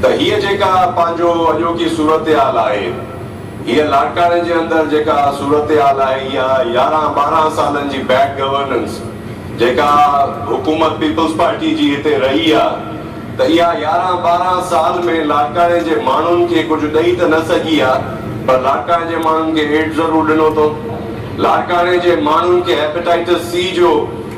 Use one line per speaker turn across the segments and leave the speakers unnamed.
ته هيء جيڪا پنهنجو اڄوڪي صورتحال آهي، هيء لاڙڪاڻي جي اندر جيڪا صورتحال آهي، اها يارهن ٻارهن سالن جي بيڊ گورننس جيڪا حڪومت پيپلز پارٽيء جي هتي رهي آ، ته اها يارهن ٻارهن سال ۾ لاڙڪاڻي جي ماڻهن کي ڪجهه ڏئي ته نه سگهي آ، پر لاڙڪاڻي جي ماڻهن کي ايڊز ضرور ڏنو اٿئون. لاڙڪاڻي جي ماڻهن کي هيپيٽائيٽس سي جو.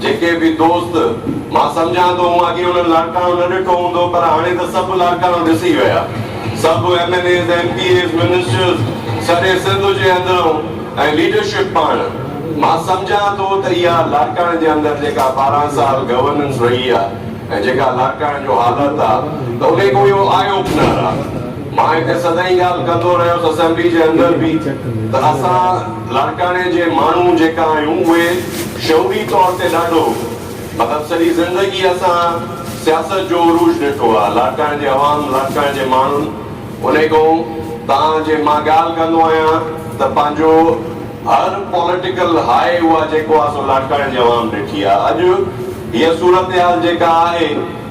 جيڪي به دوست، مان سمجهان ٿو مون اڳي انهن لاڙڪاڻو نه ڏٺو هوندو پر هاڻي ته سڀ لاڙڪاڻو ڏسي ويا. سڀ M N As, M P As, ministers, سڄي سنڌ جي اندرئون ۽ ليڊرشپ پاڻ. مان سمجهان ٿو ته اها لاڙڪاڻي جي اندر جيڪا ٻارهن سال گورننس رهي آ ۽ جيڪا لاڙڪاڻي جو حالت آ ته انهي ڪو اهو آئي اوپنر آ. مان هتي سدائين ڳالهه ڪندو رهيس اسيمبلي جي اندر به ته اسان. لاڙڪاڻي جي ماڻهو جيڪا آهيون اهي شعوري طور تي ڏاڍو مطلب سڄي زندگي اسان سياست جو عروج ڏٺو آهي لاڙڪاڻي جي عوام لاڙڪاڻي جي ماڻهن انهي کان تان جي مان ڳالهه ڪندو آهيان ته پنهنجو هر پوليٽيڪل هاء اها جيڪو آهي سو لاڙڪاڻي جي عوام ڏٺي آهي اڄ هيء صورتحال جيڪا آهي